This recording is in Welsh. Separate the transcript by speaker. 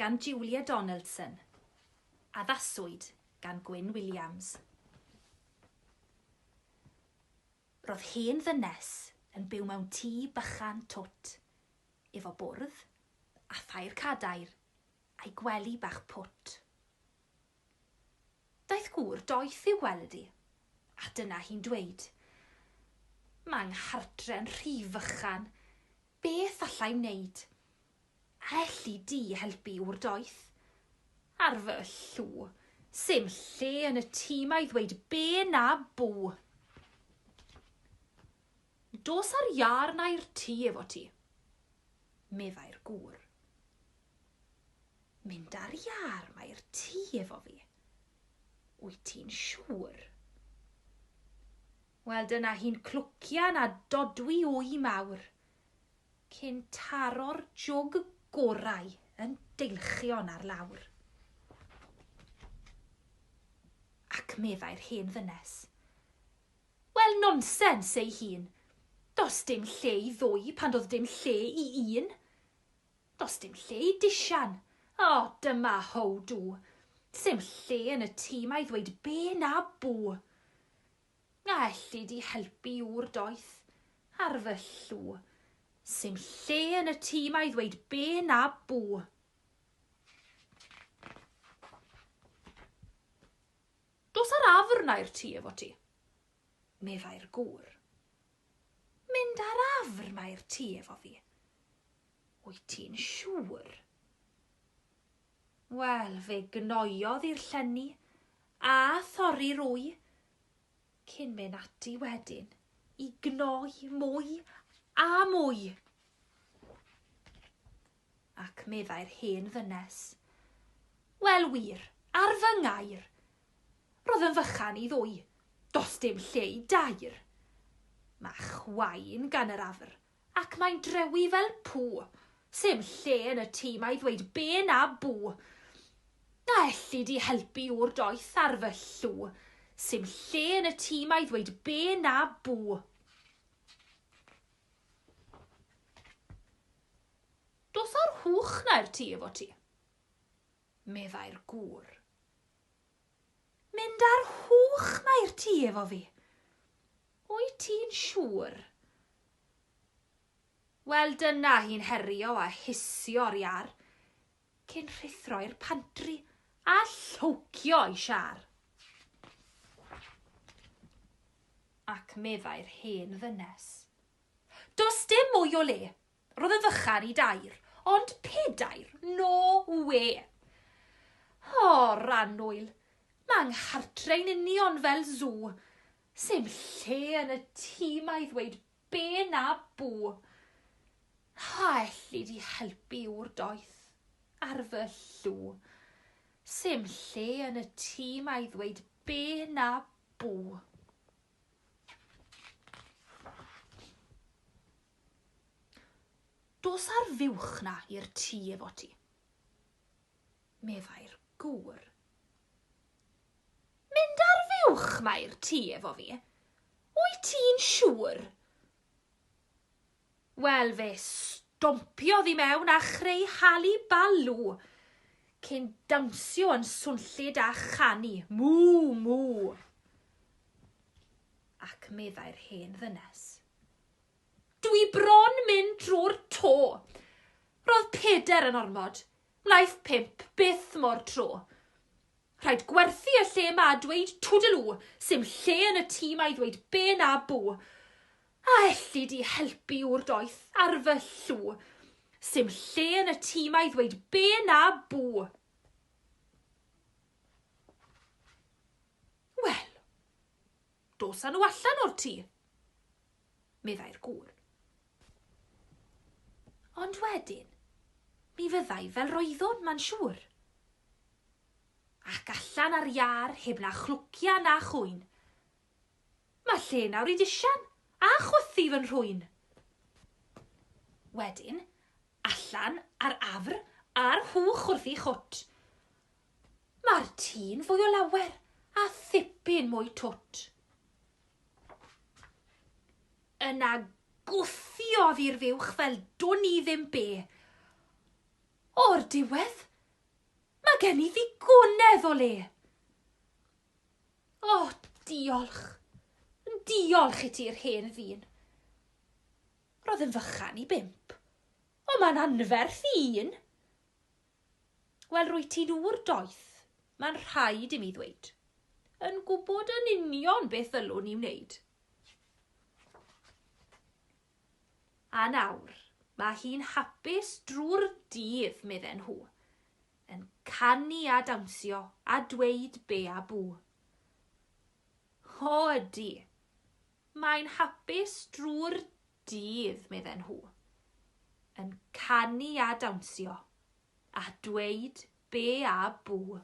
Speaker 1: gan Julia Donaldson, addaswyd gan Gwyn Williams. Ro'dd hen ddynes yn byw mewn tŷ bychan twt, efo bwrdd, a thair cadair, a'i gwely bach pwt. Daeth gŵr doeth i'w gweld 'i, a dyna hi'n dweud, Ma' 'nghardre'n rhy fychan, beth allai'm neud? Elli di helpu yw'r doeth. Ar fy llw. Sim lle yn y tîm a'i ddweud be na bw. Dos ar iâr na i'r tŷ efo ti. Meddai'r gŵr. Mynd ar iâr na i'r tŷ efo fi. Wyt ti'n siŵr? Wel dyna hi'n clwcian a dodwy wy mawr. cyn taro'r jwg gorau yn deilchion ar lawr. Ac meddai'r hen ddynes, Wel, nonsens ei hun. Does dim lle i ddwy pan doedd dim lle i un. Does dim lle i disian. O, oh, dyma how do. Sim lle yn y tîm a'i ddweud be na bw. Na elli di helpu ŵr doeth ar fy llw. Sim lle yn y tŷ 'ma i ddweud be na bw. Dos ar afr na i'r tŷ efo ti, meddai'r gŵr. Mynd ar afr na i'r tŷ efo fi? Wyt ti'n siŵr? Wel, fe gnoiodd i'r llenni a thorri'r wy, cyn mynd ati wedyn i gnoi mwy a mwy. Ac meddai'r hen ddynes, Wel wir, ar fy ngair, roedd yn fychan i ddwy, does dim lle i dair. Mae chwain gan yr afr, Ac mae'n drewi fel pŵ. Sim lle yn y tŷ mae ddweud be na bŵ. Na elli di helpu ŵr doeth ar fy llw. Sim lle yn y tŷ mae ddweud be na bŵ. Dos o'r hwch na i'r tŷ efo ti. Meddai'r gŵr. Mynd ar hwch ma i'r tŷ efo fi. Wyt ti'n siŵr? Wel dyna hi'n herio a hisio o'r iâr, cyn rhuthro i'r pantri a llowcio i siâr. Ac meddai'r hen ddynes. Does dim mwy o le, Roedd yn fychan i dair, ond pedair, no wê! O, Rannwyl, mae 'nghartre i'n union fel sw. Sim lle yn y tŷ 'ma i ddweud be na bw. A elli di helpu ŵr doeth ar fy llw? Sim lle yn y tŷ 'ma i ddweud be na bw. Dos a'r fuwch 'na i'r tŷ efo ti, meddai'r gŵr. Mynd a'r fuwch 'ma i'r tŷ efo fi? Wyt ti'n siŵr? Wel, fe stompiodd i mewn a chreu hali balw, cyn dawnsio yn swnllyd a chanu, Mŵ! Mŵ! Ac meddai'r hen ddynes, Dwi bron mynd drwy'r to! Roedd Peder yn ormod, Wnaeth Pip byth mor tro. Rhaid gwerthu y lle 'ma a dweud Toodaloo, sim lle yn y tŷ 'ma i ddweud be na bw. A elli di helpu ŵr doeth ar fy llw? Sim lle yn y tŷ 'ma i ddweud be na bw. Wel, dos â nhw allan o'r tŷ. meddai'r gŵr. Ond wedyn, mi fyddai fel roeddwn, ma'n siŵr. Ac allan ar iâr, heb na chlwcia na chwyn. Mae lle nawr i disian, a chwythu fy nhrwyn. Wedyn, allan ar afr, a'r hwch wrth ei chwt. Mae'r tî'n fwy o lawer, a thipyn mwy twt. Yna gwthiodd i'r fuwch fel dwn i ddim be. O'r diwedd, mae gen i ddigonedd o le. O, oh, diolch. Diolch i ti'r hen ddyn. Roedd yn fychan i bimp. O, mae'n anferth i un. Wel, rwyt ti'n ŵr doeth, mae'n rhaid i mi ddweud, yn gwybod yn union beth ddylwn i wneud. A nawr, mae hi'n hapus drwy'r dydd, medden nhw, yn canu a dawnsio a dweud be a bw. O ydy, mae'n hapus drwy'r Dydd, medden nhw, yn canu a dawnsio, a dweud be a bŵ.